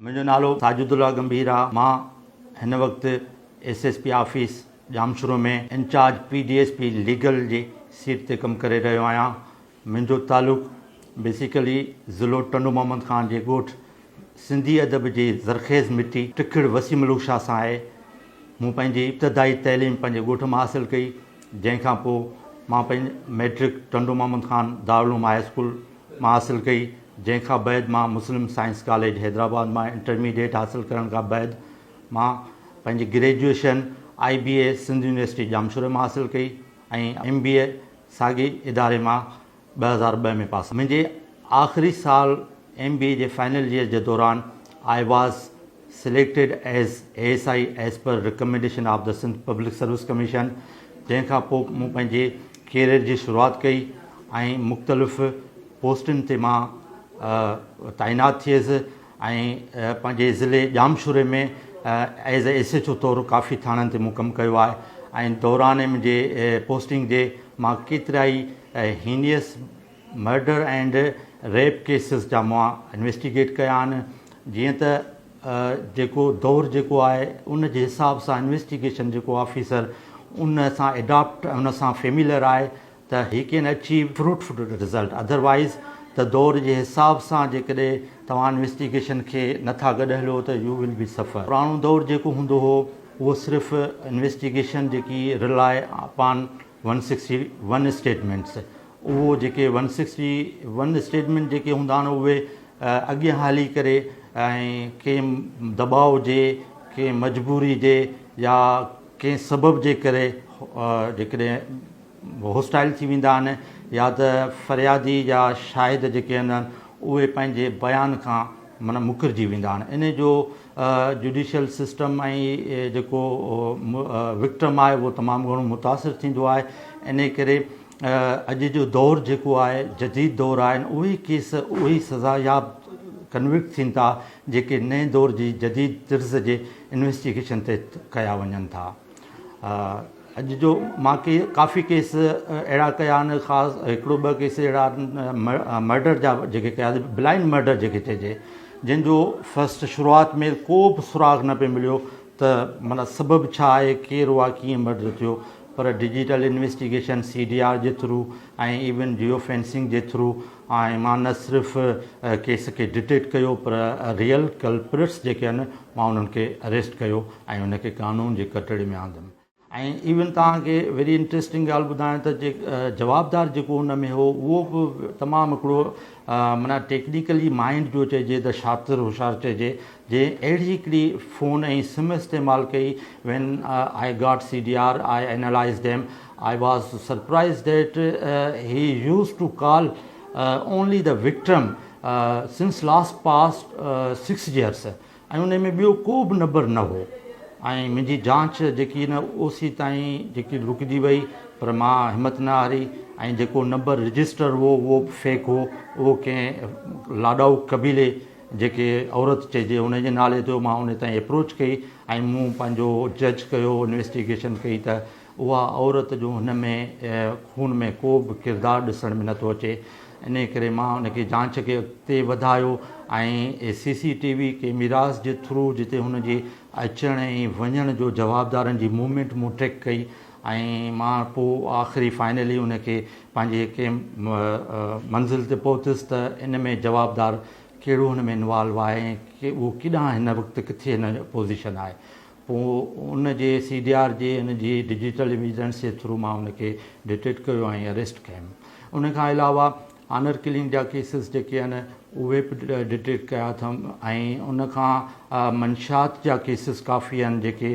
منهنجو نالو ساجد الله گنڀير آ، مان هن وقت S S P office Jamshoro ۾ incharge P D S P legal جي سيٽ تي ڪم ڪري رهيو آهيان. منهنجو تعلق بيسيڪلي ضلعو ٽنڊو محمد خان جي ڳوٺ سنڌي ادب جي زرخيز مٽي ٽکڙ وسيع ملوڪ شاهه سان آهي. مون پنهنجي ابتدائي تعليم پنهنجي ڳوٺ مان حاصل ڪئي جنهن کان پوء مان پنهنجي matric Tando Muhammad Khan Darul Uloom high school مان حاصل ڪئي، جنهن کان بعد مان مسلم سائنس ڪاليج حيدرآباد مان انٽرميڊيٽ حاصل ڪرڻ کان بعد مان پنهنجي graduation I B A Sindh university ڄامشوري مان حاصل ڪئي ۽ ايم بي اي ساڳي اداري مان ٻه هزار ٻه ۾ پاس منهنجي آخري سال ايم بي اي جي فائنل ييئر جي دوران I was selected as A S I as per recommendation of the Sindh public service commission جنهن کان پوء مون پنهنجي ڪيريئر جي شروعات ڪئي ۽ مختلف پوسٽن تي مان تعينات ٿيس ۽ پنهنجي ضلعي ڄامشوري ۾ ايز اي ايس ايڇ او طور ڪافي ٿاڻن تي مون ڪم ڪيو آهي ۽ دوران منهنجي پوسٽنگ جي مان ڪيترائي heinous murder and rape cases جا مئا انويسٽيگيٽ ڪيا آهن جيئن ته جيڪو دور جيڪو آهي ان جي حساب سان انويسٽيگيشن جيڪو آفيسر ان سان ايڊاپٽ ۽ ان سان فيميلر آهي ته he can achieve fruitful result otherwise ته دور جي حساب سان جيڪڏهن توهان انويسٽيگيشن کي نه ٿا گڏ هليو ته يو ول بي سفر پراڻو دور جيڪو هوندو هو اهو صرف انويسٽيگيشن جيڪي rely upon one sixty one statements اهو جيڪي ون سڪسٽي ون اسٽيٽمينٽ جيڪي هوندا آهن اهي اڳيان هلي ڪري ۽ ڪنهن دٻاء جي ڪنهن مجبوري جي يا ڪنهن سبب جي ڪري جيڪڏهن هوسٽائل ٿي ويندا آهن يا ته فريادي يا شاهد جيڪي هوندا آهن اهي پنهنجي بيان کان معنيٰ مڪرجي ويندا آهن انهي جو جڊيشل سسٽم ۽ جيڪو وڪٽم آهي اهو تمام گهڻو متاثر ٿيندو آهي انهي ڪري اڄ جو دور جيڪو آهي جديد دور آهن اهي ڪيس اهي سزا ياب ڪنوڪٽ ٿين ٿا جيڪي نئين دور جي جديد طرز جي انويسٽيگيشن تحت ڪيا وڃن ٿا. اڄ جو مان ڪي ڪافي ڪيس اهڙا ڪيا آهن خاص هڪڙو ٻه ڪيس اهڙا مرڊر جا جيڪي ڪيا بلائنڊ مرڊر جيڪي چئجي جن جو فسٽ شروعات ۾ ڪو به سراغ نه پئي مليو ته مانا سبب ڇا آهي ڪير هئا ڪيئن مرڊر ٿيو پر digital investigation C D R جي ٿرو ۽ ايون جيو فينسنگ جي ٿرو ۽ مان نه صرف ڪيس کي ڊٽيڪٽ ڪيو پر ريئل ڪلپرٽس جيڪي آهن مان انهن کي اريسٽ ڪيو ۽ ان کي قانون جي ڪٽهڙي ۾ آندم ۽ ايون توهان کي ويري انٽريسٽنگ ڳالهه ٻڌايان ته جوابدار جيڪو ان ۾ هو اهو به تمام هڪڙو معنيٰ ٽيڪنيڪلي مائنڊ جو چئجي ته شاطر هوشيار چئجي جنهن اهڙي هڪڙي فون ۽ سم استعمال ڪئي when I got C D R I analysed him I was surprised that he use to call only the victim since last past six years ۽ انهي ۾ ٻيو ڪو به نبر نه هو ۽ منهنجي جانچ جيڪي ان او سي تائين جيڪي رڪجي وئي پر مان همت نه هاري ۽ جيڪو نبر رجسٽر هو اهو به فيڪ هو اهو ڪنهن لاڏائو قبيلي جيڪي عورت چئجي انهي جي نالي تي هو مان انهي تائين اپروچ ڪئي ۽ مون پنهنجو جج ڪيو انويسٽيگيشن ڪئي ته اها عورت جو هن ۾ خون ۾ ڪو به ڪردار ڏسڻ ۾ نٿو اچي انهي ڪري مان ان کي جانچ کي اڳتي وڌايو ۽ سي سي ٽي وي ڪيميراز جي ٿرو جتي هن جي اچڻ ۽ وڃڻ جو جوابدارن جي موومينٽ مون ٽريڪ ڪئي ۽ مان پوء آخري فائنلي ان کي پنهنجي ڪيم منزل تي پهتس ته ان ۾ جوابدار ڪهڙو هن ۾ انوالو آهي ۽ اهو ڪيڏانهن هن وقت ڪٿي هن پوزيشن آهي پوء ان جي سي ڊي آر جي ان جي ڊجيٽل ايويڊنس جي ٿرو مان ان کي ڊٽيڪٽ ڪيو ۽ اريسٽ ڪيم. ان کان علاوه آنر ڪلنگ جا ڪيسز جيڪي آهن اهي به ڊٽيڪٽ ڪيا اٿم ۽ ان کان منشيات جا ڪيسز ڪافي آهن جيڪي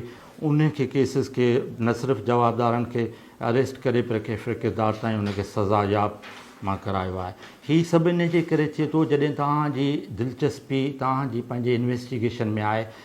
ان کي ڪيسز کي نه صرف جوابدارن کي اريسٽ ڪري پر ڪيفر ڪردار تائين ان کي سزا ياب مان ڪرايو آهي. هي سڀ ان جي ڪري ٿئي ٿو جڏهن توهان جي دلچسپي توهان جي پنهنجي انويسٽيگيشن ۾ آهي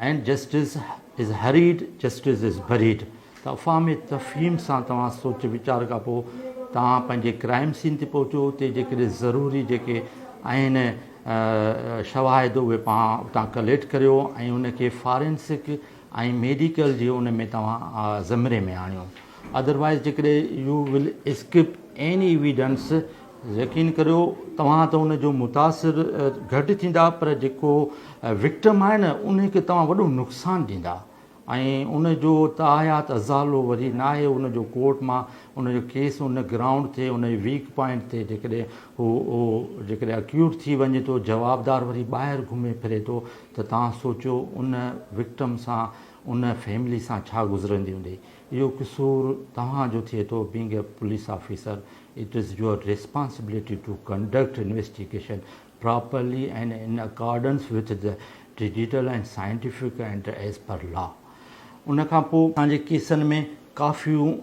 ائين justice is hurried justice is buried ته افهام تفهيم سان توهان سوچ ويچار کان پوء توهان پنهنجي ڪرائيم سين تي پهچو اتي جيڪڏهن ضروري جيڪي آهن شواهد اهي پاڻ اتان ڪليٽ ڪريو ۽ ان کي فارينسڪ ۽ ميڊيڪل جي ان ۾ توهان زمري ۾ آڻيو ادروائز جيڪڏهن you will skip any evidence يقين ڪريو توهان ته ان جو متاثر گهٽ ٿيندا پر جيڪو وڪٽم آهي نه ان کي توهان وڏو نقصان ڏيندا ۽ ان جو تاحيات ازالو وري ناهي ان جو ڪورٽ مان ان جو ڪيس ان گرائونڊ تي ان ويڪ پوائنٽ تي جيڪڏهن هو هو جيڪڏهن اڪيوٽ ٿي وڃي ٿو جوابدار وري ٻاهر گهمي ڦري ٿو ته توهان سوچيو ان وڪٽم سان ان فيملي سان ڇا گذرندي هوندي اهو قصور توهان جو ٿئي ٿو، being a police officer it is your responsibility to conduct investigation properly and in accordance with the digital and scientific and as per law ان کان پو اسان جي ڪيسن ۾ ڪافيون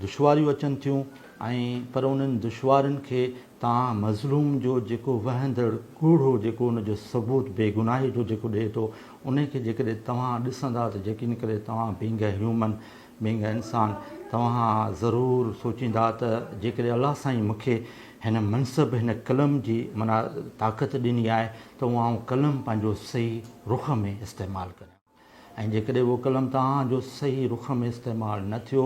دشواريون اچن ٿيون ۽ پر انهن دشوارين کي توهان مظلوم جو جيڪو وهندڙ ڪوڙهو جيڪو ان جو ثبوت بيگناهي جو جيڪو ڏئي ٿو انهي کي جيڪڏهن توهان ڏسندا ته يقين ڪري توهان being a human, being a انسان، توهان ضرور سوچيندا ته جيڪڏهن الله سائين مون کي هن منصب، هن قلم جي معنيٰ طاقت ڏني آهي ته اهو آئون قلم پنهنجو صحيح رخ ۾ استعمال ڪريان ۽ جيڪڏهن اهو قلم توهان جو صحيح رخ ۾ استعمال نه ٿيو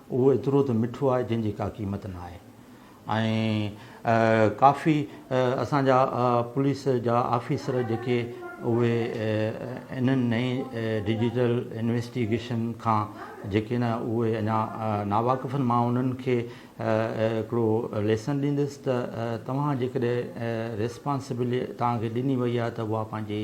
اهو ايترو ته مٺو آهي جنهن جي ڪا قيمت نه آهي ۽ ڪافي اسان جا پوليس جا آفيسر جيڪي اهي انهن نئين ڊجيٽل انويسٽيگيشن کان جيڪي نه اهي اڃا ناواقف آهن مان انهن کي هڪڙو ليسن ڏيندس ته توهان جيڪڏهن ريسپانسبلٽي توهان کي ڏني وئي آهي ته اها پنهنجي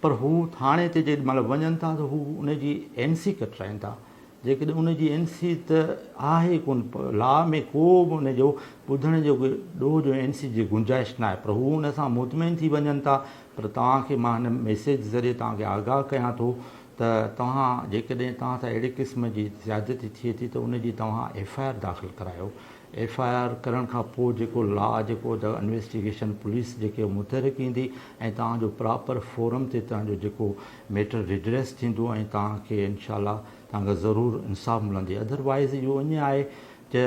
پر هو ٿاڻي تي جيڏي مهل وڃن ٿا ته هو ان جي اين سي ڪٽرائين ٿا جيڪڏهن ان جي اين سي ته آهي ئي ڪونه لا ۾ ڪو به ان جو ٻڌڻ جو ڏوهه جو اين سي جي گنجائش ناهي پر هو ان سان مطمئن ٿي وڃن ٿا پر توهان کي مان هن ميسيج ذريعي توهان کي آگاهه ڪيان ٿو ته توهان جيڪڏهن توهان سان اهڙي قسم جي زيادتي ٿئي ٿي ته ان جي توهان ايف آء آر داخل ڪرايو ايف آء آر ڪرڻ کان پوء جيڪو لا جيڪو ته انويسٽيگيشن پوليس جيڪي متحرڪ ايندي ۽ توهان جو پراپر فورم تي توهان جو جيڪو ميٽر ريڊريس ٿيندو ۽ توهان کي انشاء الله توهان کي ضرور انصاف ملندي ادر وائز اهو اڃ آهي ته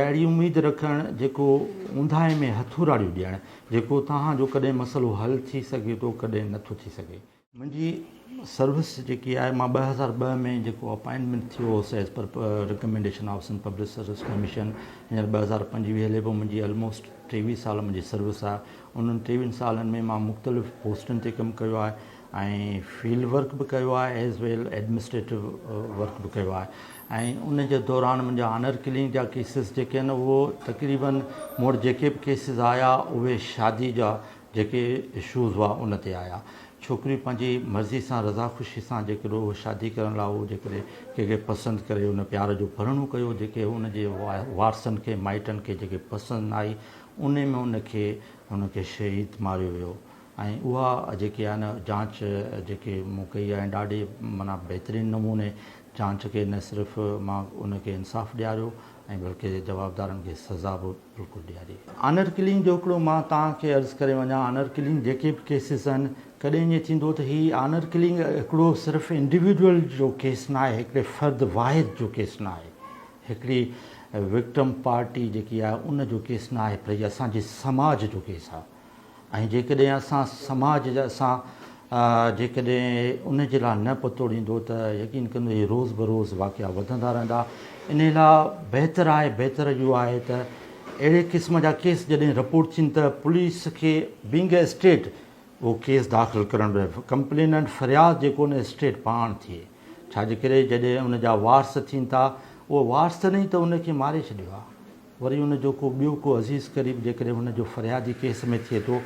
اهڙي اميد رکڻ جيڪو اونداهي ۾ هٿوراڙيون ڏيڻ جيڪو توهان جو ڪڏهن مسئلو حل ٿي سگهي ٿو ڪڏهن نٿو ٿي سگهي. منهنجي سروس جيڪي آهي مان ٻه هزار ٻه ۾ جيڪو اپائنٽمينٽ ٿيو هوس as per recommendation of Sindh public service commission هينئر ٻه هزار پنج ويهه هلي پيو منهنجي آلموسٽ ٽيويهه سال منهنجي سروس آهي انهن ٽيويهن سالن ۾ مان مختلف پوسٽن تي ڪم ڪيو آهي ۽ فيلڊ ورڪ به ڪيو آهي ايز ويل ايڊمنسٽريٽو ورڪ به ڪيو آهي ۽ ان جي دوران منهنجا آنر ڪلنگ جا ڪيسز جيڪي آهن اهو تقريبن مور جيڪي به ڪيسز آيا اهي شادي جا جيڪي اشوز هئا ان تي آيا. ڇوڪري پنهنجي مرضي سان رضا خوشي سان جيڪڏهن هوء شادي ڪرڻ لاء هوء جيڪڏهن ڪنهن کي پسند ڪري ان پيار جو ڀرڻو ڪيو جيڪي ان جي وارثن کي مائٽن کي جيڪي پسند نه آئي انهي ۾ ان کي ان کي شهيد ماريو ويو ۽ اها جيڪي آهي نه جانچ جيڪي مون ڪئي آهي ڏاڍي معنيٰ بهترين نموني جانچ ڪئي نه صرف مان ان کي انصاف ڏياريو ۽ بلڪه جوابدارن کي سزا به بلڪل ڏياري. آنر ڪلنگ جو هڪڙو مان توهان کي عرض ڪري وڃان آنر ڪلنگ جيڪي به ڪيسز آهن ڪڏهن ائين ٿيندو ته هي آنر ڪلنگ هڪڙو صرف انڊيوڊيول جو ڪيس نه آهي هڪڙي فرد واحد جو ڪيس نه آهي هڪڙي وڪٽم پارٽي جيڪي آهي ان جو ڪيس نه آهي پر هي اسان جي سماج جو ڪيس آهي ۽ جيڪڏهن اسان سماج جا اسان جيڪڏهن ان جي لاء نه پتو ڏيندو ته يقين ڪندو هي روز بروز واقعا وڌندا رهندا انهي لاء بهتر آهي بهتر اهو آهي ته اهڙي قسم جا ڪيس جڏهن رپورٽ ٿين ته پوليس کي بينگ اي اسٽيٽ اهو ڪيس داخل ڪرڻ به ڪمپليننٽ فرياد جيڪو نه اسٽيٽ پاڻ ٿئي ڇاجي ڪري جڏهن ان جا وارث ٿين ٿا اهو وارث نه ئي ته ان کي ماري ڇڏيو آهي وري ان جو ڪو ٻيو ڪو عزيز قريب جيڪڏهن ان جو فريادي ڪيس ۾ ٿئي ٿو،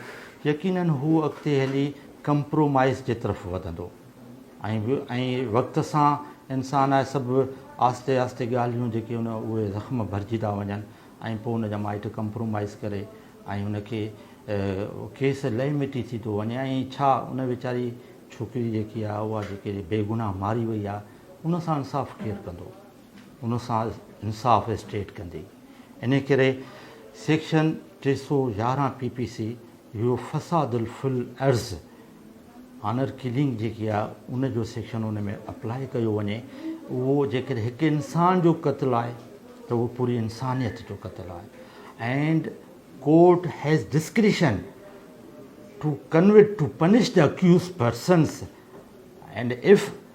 يقيناً هو اڳتي هلي ڪمپرومائيز جي طرف وڌندو ۽ ۽ وقت سان انسان آهي سڀ آهستي آهستي ڳالهيون جيڪي ان اهي زخم ڀرجي ٿا وڃن ۽ پوء ان جا مائٽ ڪمپرومائيز ڪري ۽ ان کي ڪيس لئي مٽي ٿي ٿو وڃي ۽ ڇا ان ويچاري ڇوڪري جيڪي آهي اها جيڪي بيگناهه ماري وئي آهي ان سان انصاف ڪير ڪندو؟ ان سان انصاف اسٽيٽ ڪندي. انهي ڪري سيڪشن ٽي سؤ يارهن پي پي سي اهو فساد في الارض آنر ڪلنگ جيڪي آهي ان جو سيڪشن ان ۾ اپلاء ڪيو وڃي اهو جيڪڏهن هڪ انسان جو قتل آهي ته اهو پوري انسانيت جو قتل آهي and court has discretion to convict to punish the accused persons and if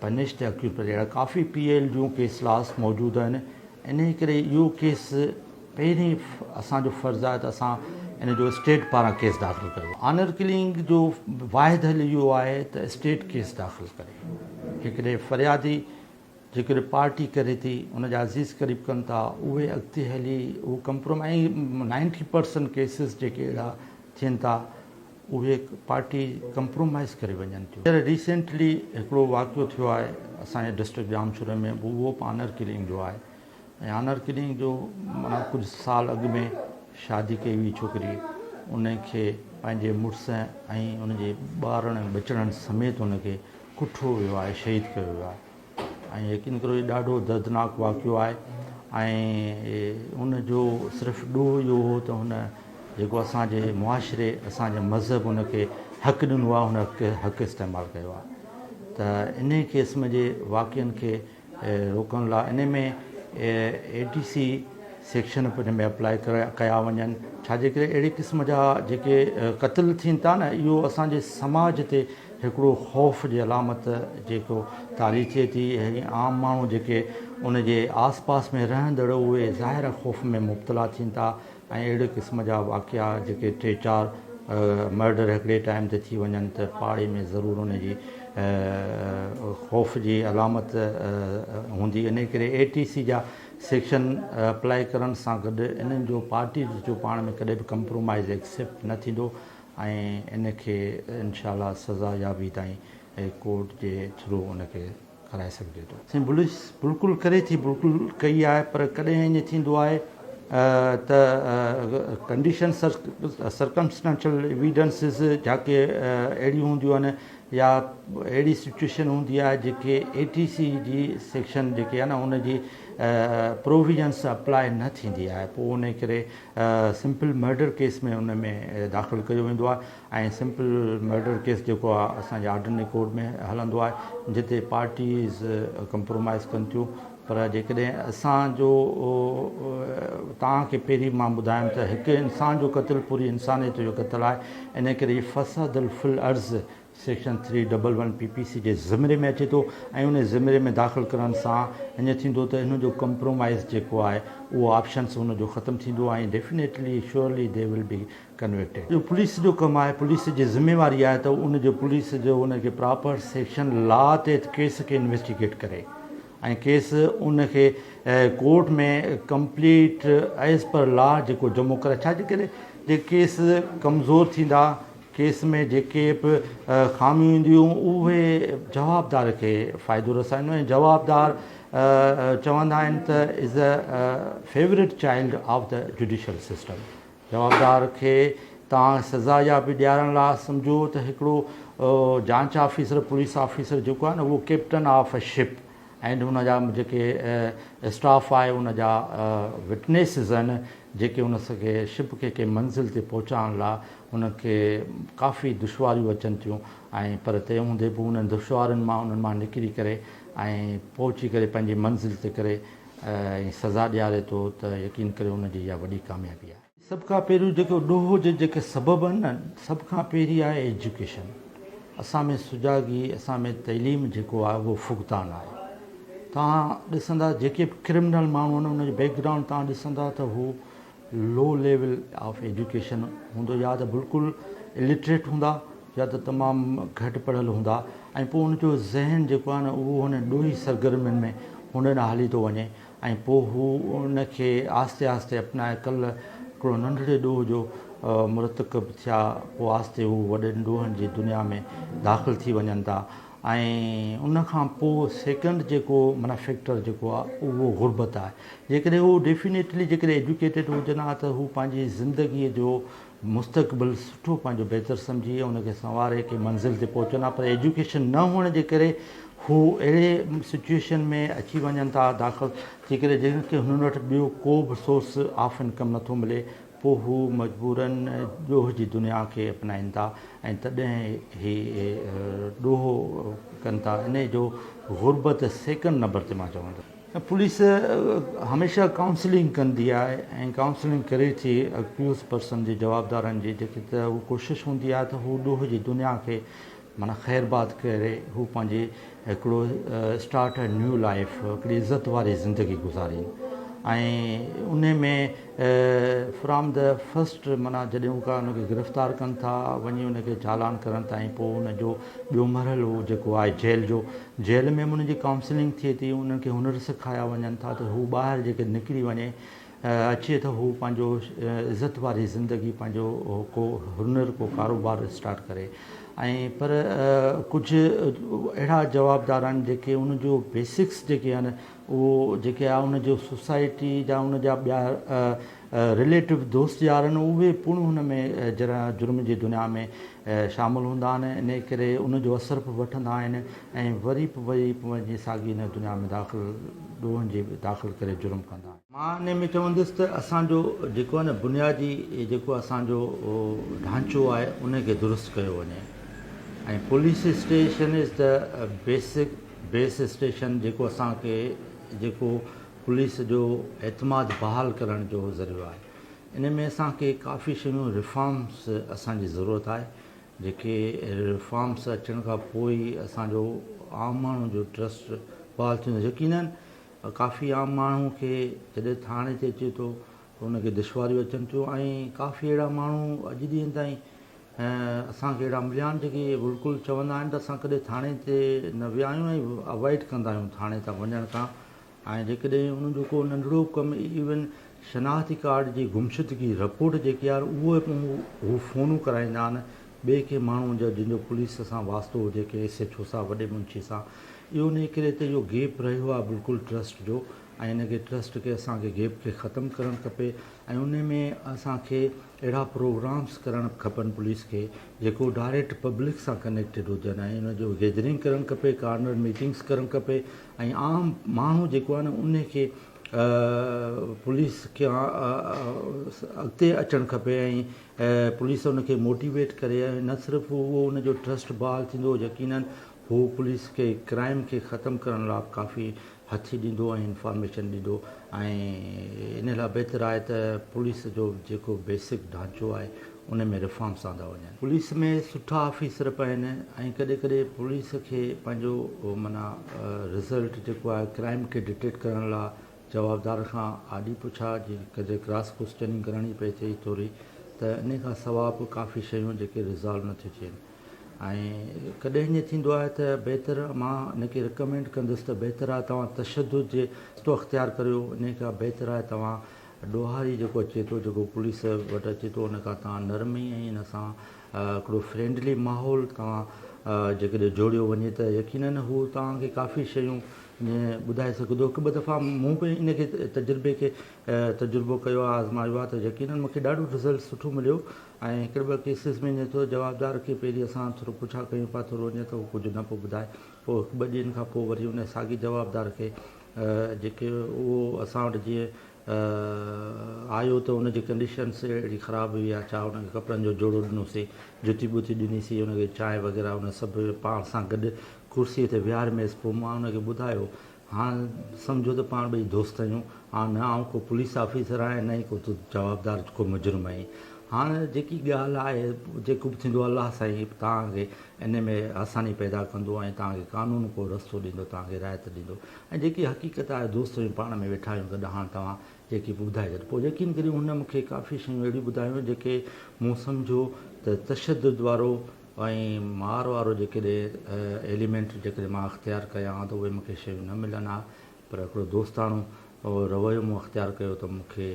punish تي اڪيوپر جهڙا ڪافي پي ايل جون ڪيس لاس موجود آهن انهي ڪري اهو ڪيس پهرين اسان جو فرض آهي ته اسان ان جو اسٽيٽ پاران ڪيس داخل ڪريو آنر ڪلنگ جو واحد حل اهو آهي ته اسٽيٽ ڪيس داخل ڪري هڪڙي فريادي جيڪڏهن پارٽي ڪري ٿي ان جا عزيز قريب ڪن ٿا اهي اڳتي هلي اهو ڪمپروم ۽ نائنٽي پرسنٽ ڪيسز جيڪي اهڙا ٿين ٿا اهي پارٽي ڪمپرومائيز ڪري وڃن ٿيون هينئر ريسينٽلي هڪڙو واقعو ٿيو آهي اسان جي ڊسٽرڪٽ ڄامشوري ۾ به اهو به آنر ڪلنگ جو آهي ۽ آنر ڪلنگ جو معنيٰ ڪجهه سال اڳ ۾ شادي ڪئي هئي ڇوڪري ان کي پنهنجي مڙس ۽ ان جي ٻارڙن ٻچڙن سميت ان کي ڪٺو ويو آهي شهيد ڪيو ويو آهي ۽ يقين ڪريو هي ڏاڍو دردناڪ واقعو آهي ۽ ان جو صرف ڏوهه اهو هو ته هن جيڪو اسان جي معاشري اسان جي مذهب ان کي حق ڏنو آهي هن کي حق استعمال ڪيو آهي ته ان قسم جي واقعن کي روڪڻ لاء ان ۾ اي ڊي سي سيڪشن پنج ۾ اپلائي ڪيا وڃن ڇا جي ڪري اهڙي قسم جا جيڪي قتل ٿين ٿا نه اهو اسان جي سماج تي هڪڙو خوف جي علامت جيڪو طاري ٿئي ٿي ۽ عام ماڻهو جيڪي ان جي آس پاس ۾ رهندڙ اهي ظاهر خوف ۾ مبتلا ٿين ٿا ۽ اهڙي قسم جا واقعا جيڪي ٽي چار مرڊر هڪڙي ٽائيم تي ٿي وڃن ته پاڙي ۾ ضرور ان جي خوف جي علامت هوندي انهي ڪري اي ٽي سي جا سيڪشن اپلائي ڪرڻ سان گڏ انهن جو پارٽي جو پاڻ ۾ ڪڏهن به ڪمپرومائيز ايڪسيپٽ نه ٿيندو ۽ ان کي انشاء الله سزا يابي تائين ڪورٽ جي ٿرو ان کي ڪرائي سگهجي ٿو. سائين بلوچ بلڪل ڪري ٿي بلڪل ڪئي آهي پر ڪڏهن ائين ٿيندو آهي ته ڪنڊيشنس سرڪمسٽنشل ايويڊنسز جاڪي اهڙيون هونديون آهن يا اهڙي سچوئيشن هوندي آهي جيڪي اي ٽي سي جي سيڪشن جيڪي آهي نه ان جي پروويزنس اپلاء نه ٿيندي آهي پوء انهي ڪري سمپل مرڊر ڪيس ۾ ان ۾ داخل ڪيو ويندو آهي ۽ سمپل مرڊر ڪيس جيڪو آهي اسان جي آرڊنري ڪورٽ ۾ هلندو آهي جتي پارٽيز ڪمپرومائز ڪن ٿيون پر جيڪڏهن اسان جو توهان کي پهرين مان ٻڌايم ته هڪ انسان جو قتل پوري انسانيت جو قتل آهي انهي ڪري فساد في الارض section three double one P P C جي زمري ۾ اچي ٿو ۽ انهي زمري ۾ داخل ڪرڻ سان اڃ ٿيندو ته ان جو ڪمپرومائيز جيڪو آهي اهو آپشنس ان جو ختم ٿيندو ۽ definitely surely they will be convicted اهو پوليس جو ڪم آهي پوليس جي ذميواري آهي ته ان جو پوليس جو ان کي پراپر سيڪشن لا تحت ڪيس کي انويسٽيگيٽ ڪري ۽ ڪيس ان کي court ۾ complete as per law جيڪو جمو ڪري ڇا جي ڪري جي ڪيس ڪمزور ٿيندا ڪيس ۾ جيڪي به خاميون اينديون اهي جوابدار کي فائدو رسائيندو ۽ جوابدار چوندا آهن ته is a favourite child of ته جوڊيشل سسٽم جوابدار کي توهان سزا يا به ڏيارڻ لاء سمجهو ته هڪڙو جانچ آفيسر پوليس آفيسر جيڪو آهي نه اهو ڪيپٽن آف اي شپ ۽ ان جا جيڪي اسٽاف آهي ان جا وٽنيسز آهن جيڪي ان کي شپ کي ڪنهن منزل تي پهچائڻ لاء ان کي ڪافي دشواريون اچن ٿيون ۽ پر تنهن هوندي به انهن دشوارين مان انهن مان نڪري ڪري ۽ پهچي ڪري پنهنجي منزل تي ڪري ۽ سزا ڏياري ٿو ته يقين ڪريو ان جي اها وڏي ڪاميابي آهي. سڀ کان پهريون جيڪو ڏوهه جي جيڪي سبب آهن نه سڀ کان پهرين آهي ايجوڪيشن اسان ۾ سجاڳي اسان ۾ تعليم جيڪو آهي اهو فقدان آهي توهان ڏسندا جيڪي به ڪرمنل ماڻهو آهن ان جو بيڪ گرائونڊ توهان ڏسندا ته هو لو ليول آف ايجوڪيشن هوندو يا ته بلڪل الٽريٽ هوندا يا ته تمام گهٽ پڙهيل هوندا ۽ پوء ان جو ذهن جيڪو آهي نه اهو هن ڏوهي سرگرمين ۾ هن ڏانهن هلي ٿو وڃي ۽ پوء هو ان کي آهستي آهستي اپنائي ڪلهه هڪڙو ننڍڙي ڏوهه جو مرتڪب ٿيا پوء آهستي هو وڏن ڏوهن جي دنيا ۾ داخل ٿي وڃن ٿا ۽ ان کان پوء سيڪنڊ جيڪو معنيٰ فيڪٽر جيڪو آ اهو غربت آهي جيڪڏهن هو ڊيفينيٽلي جيڪڏهن ايجوڪيٽيڊ هجن ها ته هو پنهنجي زندگي جو مستقبل سٺو پنهنجو بهتر سمجهي ۽ ان کي سنواري ڪنهن منزل تي پهچن ها پر ايجوڪيشن نه هئڻ جي ڪري هو اهڙي سچوئيشن ۾ اچي وڃن ٿا داخل جيڪڏهن جن کي هنن وٽ ٻيو ڪو به سورس آف انڪم نٿو ملي پوء هو مجبوراً ڏوهه جي دنيا کي اپنائين ٿا ۽ تڏهن هي ڏوهه ڪن ٿا انهي جو غربت سيڪنڊ نمبر تي مان چوان ٿو. پوليس هميشه ڪائونسلنگ ڪندي آهي ۽ ڪائونسلنگ ڪري ٿي اڪيوز پرسن جي جوابدارن جي جيڪي ته هو ڪوشش هوندي آهي ته هو ڏوهه جي دنيا کي معنيٰ خير باد ڪري هو پنهنجي هڪڙو اسٽارٽ اي نيو لائيف هڪڙي عزت واري زندگي گذارين ۽ انهي ۾ فرام دي فرسٽ معنيٰ جڏهن هو ان کي گرفتار ڪن ٿا وڃي ان کي چالان ڪرڻ تائين پوء ان جو ٻيو مرحلو جيڪو آهي جيل جو جيل ۾ به انهن جي ڪائونسلنگ ٿئي ٿي انهن کي هنر سکايا وڃن ٿا ته هو ٻاهر جيڪي نڪري وڃي اچي ته هو پنهنجو عزت واري زندگي پنهنجو ڪو هنر ڪو ڪاروبار اسٽارٽ ڪري ۽ پر ڪجهه اهڙا جوابدار آهن جيڪي ان جو بيسڪس جيڪي آهن اهو جيڪي آهي ان جو سوسائٽي جا ان جا ٻيا رليٽو دوست يار آهن اهي پڻ ان ۾ جرم جي دنيا ۾ شامل هوندا آهن ان ڪري ان جو اثر به وٺندا آهن ۽ وري به وري وڃي ساڳي ان دنيا ۾ داخل ڏوهن جي داخل ڪري جرم ڪندا آهن مان انهي ۾ چوندس ته اسان جو جيڪو آهي نه بنيادي جيڪو اسان جو ڍانچو آهي انهي کي درست ڪيو وڃي ۽ پوليس اسٽيشن از ته بيسڪ بيس اسٽيشن جيڪو اسان کي جيڪو پوليس جو اعتماد بحال ڪرڻ جو ذريعو آهي انهي ۾ اسان کي ڪافي شيون ريفارمس اسان جي ضرورت آهي جيڪي ريفارمس اچڻ کان پوء ئي اسان جو عام ماڻهو جو ٽرسٽ بحال ٿيندو يقينن ڪافي عام ماڻهو کي جڏهن ٿاڻي تي اچي ٿو ته ان کي دشواريون اچن ٿيون ۽ ڪافي اهڙا ماڻهو اڄ ڏينهن تائين اسان کي اهڙا مليا آهن جيڪي بلڪل چوندا آهن ته اسان ڪڏهن ٿاڻي تي نه ويا آهيون ۽ اوائڊ ڪندا آهيون ٿاڻي تان وڃڻ کان ۽ جيڪڏهن انهن جو ڪو ننڍڙو ڪم ايون شناختي ڪارڊ جي گمشدگي رپورٽ جيڪي آهي اهو هو فونون ڪرائيندا آهن ٻئي ڪنهن ماڻهو جا جنهن جو پوليس سان واسطو هجي ڪنهن ايس ايڇ او سان وڏي منشي سان اهو انهي ڪري ته اهو گيپ رهيو آهي بلڪل ٽرسٽ جو ۽ ان کي ٽرسٽ کي اسان کي گيپ کي ختم ڪرڻ کپي ۽ انهي ۾ اسان کي اهڙا پروگرامس ڪرڻ کپن پوليس کي جيڪو ڊائريڪٽ پبلڪ سان ڪنيڪٽيڊ هجن ۽ ان جو گيدرنگ ڪرڻ کپي ڪارنر ميٽنگس ڪرڻ کپي ۽ عام ماڻهو جيڪو آهي نه انهي کي پوليس کي اڳتي اچڻ کپي ۽ ۽ پوليس ان کي موٽيويٽ ڪري ۽ نه صرف اهو ان جو ٽرسٽ بحال ٿيندو يقيناً هو پوليس کي ڪرائيم کي ختم ڪرڻ لا ڪافي هٿي ڏيندو ۽ انفارميشن ڏيندو ۽ ان لا بهتر آهي ته پوليس جو جيڪو بيسڪ ڍانچو آهي ان ۾ ريفارمس آندا وڃن. پوليس ۾ سٺا آفيسر به آهن ۽ ڪڏهن ڪڏهن پوليس کي پنهنجو معنيٰ رزلٽ جيڪو آهي ڪرائيم کي ڊٽيڪٽ ڪرڻ لا جوابدار کان آڏي پڇا جي ڪڏهن ڪراس ڪوسچننگ ڪرڻي پئي ٿئي ٿوري ته انهي کان سواء به ڪافي شيون جيڪي ريزالو نه ٿيون ٿين ۽ ڪڏهن ائين ٿيندو آهي ته بهتر مان ان کي رڪمينڊ ڪندس ته بهتر آهي توهان تشدد جي رستو اختيار ڪريو انهي کان بهتر آهي توهان ڏوهاري جيڪو اچي ٿو جيڪو پوليس وٽ اچي ٿو ان کان توهان نرمي ۽ ان سان هڪڙو فرينڊلي ماحول توهان جيڪڏهن جوڙيو وڃي ته يقينن هو توهان کي ڪافي شيون ٻڌائي سگهندو. هڪ ٻه دفعا مون به ان کي تجربي کي تجربو ڪيو آهي آزمايو آهي ته يقينن مون کي ڏاڍو رزلٽ سٺو مليو ۽ هڪڙي ٻه ڪيسز ۾ ائين ٿيو جوابدار کي پهرين اسان ٿورو پڇا ڪيون پيا ٿورو ائين ته هو ڪجهه نه پيو ٻڌائي پوء هڪ ٻه ڏينهن کان پوء وري ان ساڳي جوابدار کي جيڪي اهو اسان وٽ جيئن ته آيو ته ان جي ڪنڊيشنس اهڙي خراب هئي يا ڇا ان کي ڪپڙن جو جوڙو ڏنوسين جتي ٻتي ڏنيسين ان کي چانهه وغيره ان سڀ پاڻ سان گڏ ڪرسي تي ويهارميس پوء مان ان کي ٻڌايو هاڻ سمجهو ته پاڻ ٻئي دوست آهيون هاڻ نه آئون ڪو پوليس آفيسر آهيان نه ئي ڪو تو جوابدار ڪو مجرم آهين هاڻ جيڪي ڳالهه آهي جيڪو به ٿيندو الله سائين توهان کي ان ۾ آساني پيدا ڪندو ۽ توهان کي قانون ڪو رستو ڏيندو توهان کي رعايت ڏيندو ۽ جيڪي حقيقت آهي دوست وڃو پاڻ ۾ ويٺا آهيون گڏ هاڻ توهان جيڪي به ٻڌائي ڇڏ پوء يقين ڪريو هن مون کي ڪافي شيون اهڙيون ٻڌايون جيڪي مون سمجهيو ته تشدد وارو ۽ مار وارو جيڪڏهن ايليمينٽ جيڪڏهن مان اختيار ڪيان ها ته اهي مون کي شيون نه ملن ها پر هڪڙو دوستاڻو رويو مون اختيار ڪيو ته مون کي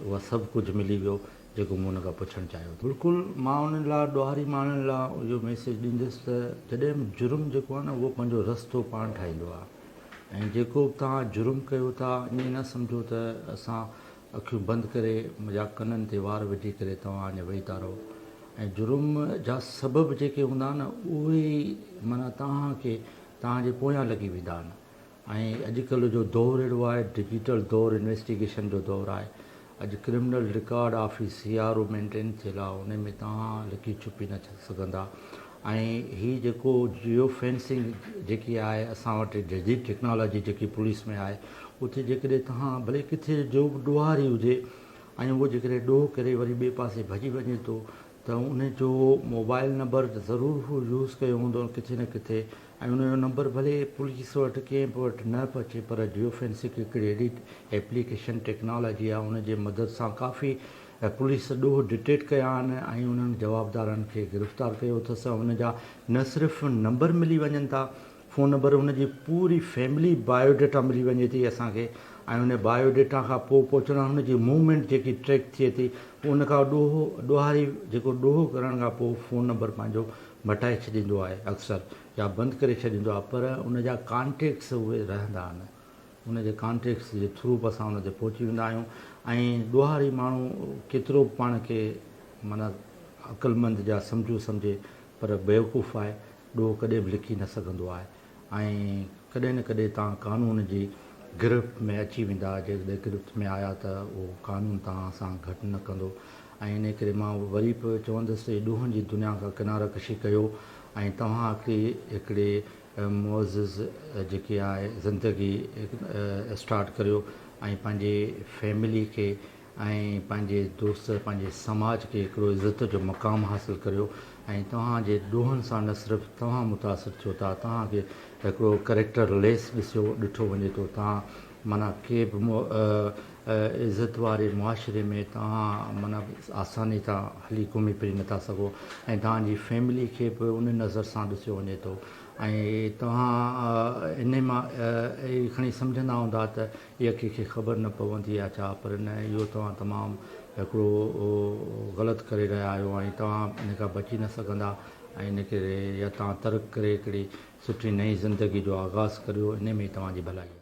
اها سڀ ڪجهه ملي ويو جيڪو مون هن کان پڇڻ چاهيو ٿو. بلڪل مان انهن لاء ڏوهاري ماڻهن لاء اهو ميسيج ڏيندس ته جڏهن به جرم جيڪو آهي نه اهو پنهنجو رستو پاڻ ٺاهيندو آهي. ۽ جيڪو به توهان جرم ڪيو ٿا ائين نه سمجهو ته اسان اکيون بند ڪري يا ڪنن تي وار وجهي ڪري توهان اڃا ويهيتا رهو ۽ جرم جا سبب جيڪي هوندا آهن اهي ئي معنيٰ توهان کي توهان جي پويان لڳي ويندا آهن ۽ اڄ ڪلهه جو دور اهڙو آهي ڊجيٽل دور انويسٽيگيشن جو دور آهي اڄ criminal record office C R O maintain ٿيل آ انهي ۾ توهان لڪي ڇپي نه سگهندا ۽ هي جيڪو جيو فينسنگ جيڪي آهي اسان وٽ جديد ٽيڪنالاجي جيڪي پوليس ۾ آهي اتي جيڪڏهن توهان ڀلي ڪٿي جو به ڏوهاري هجي ۽ اهو جيڪڏهن ڏوهه ڪري وري ٻئي پاسي ڀڄي وڃي ٿو ته ان جو موبائل نمبر ضرور هو يوز ڪيو هوندو ڪٿي نه ڪٿي ۽ ان جو نمبر ڀلي پوليس وٽ ڪنهن به وٽ نه به اچي پر جيو فينسڪ هڪڙي اهڙي ايپليڪيشن ٽيڪنالاجي آهي ان جي مدد سان ڪافي پوليس ڏوهه ڊٽيڪٽ ڪيا آهن ۽ انهن جوابدارن کي گرفتار ڪيو اٿس ان جا نه صرف نمبر ملي وڃن ٿا فون نمبر هن جي پوري فيملي بايو ڊيٽا ملي وڃي ٿي اسان کي ۽ ان بايو ڊيٽا کان پوء پهچڻ هن جي موومينٽ جيڪي ٽريڪ ٿئي ٿي پوء ان کان ڏوهو ڏوهاري جيڪو ڏوهو ڪرڻ کان پوء فون نمبر پنهنجو مٽائي ڇڏيندو آهي اڪثر يا بند ڪري ڇڏيندو آهي پر ان جا ڪانٽيڪٽس اهي رهندا آهن ان جي ڪانٽيڪٽس جي ٿرو به اسان ان تي پهچي ويندا آهيون ۽ ڏوهاري ماڻهو ڪيترو به پاڻ کي معنيٰ عقلمند جا سمجهو سمجهي پر بيوقوف آهي ڏوهه ڪڏهن به لڪي نه سگهندو آهي ۽ ڪڏهن نه ڪڏهن توهان قانون جي گرفت ۾ اچي ويندا، جيڪڏهن گرفت ۾ آيا ته اهو قانون توهان سان گهٽ نه ڪندو ۽ انهي ڪري مان وري به چوندس ته ڏوهن جي دنيا کان ڪناره ڪشي ڪيو ۽ توهان کي هڪڙي معزز جيڪي آهي زندگي اسٽارٽ ڪريو ۽ پنهنجي فيملي کي ۽ پنهنجي دوست پنهنجي سماج کي هڪڙو عزت جو مقام حاصل ڪريو ۽ توهان جي ڏوهن سان نه صرف توهان متاثر ٿيو ٿا توهان کي هڪڙو ڪريڪٽر ليس ڏسيو ڏٺو وڃي ٿو توهان معنيٰ ڪي به عزت واري معاشري ۾ توهان معنيٰ آساني سان هلي گهمي ڦري نٿا سگهو ۽ توهان جي فيملي کي به ان نظر سان ڏسيو وڃي ٿو ۽ توهان انهي مان اهي کڻي سمجهندا هوندا ته اها ڪنهن کي خبر نه پوندي آهي ڇا؟ پر نه اهو توهان تمام هڪڙو غلط ڪري رهيا آهيو ۽ توهان ان کان بچي نه سگهندا ۽ ان ڪري يا توهان ترڪ ڪري هڪڙي سٺي نئين زندگي جو آغاز ڪريو انهي ۾ ئي توهان جي ڀلائي آهي.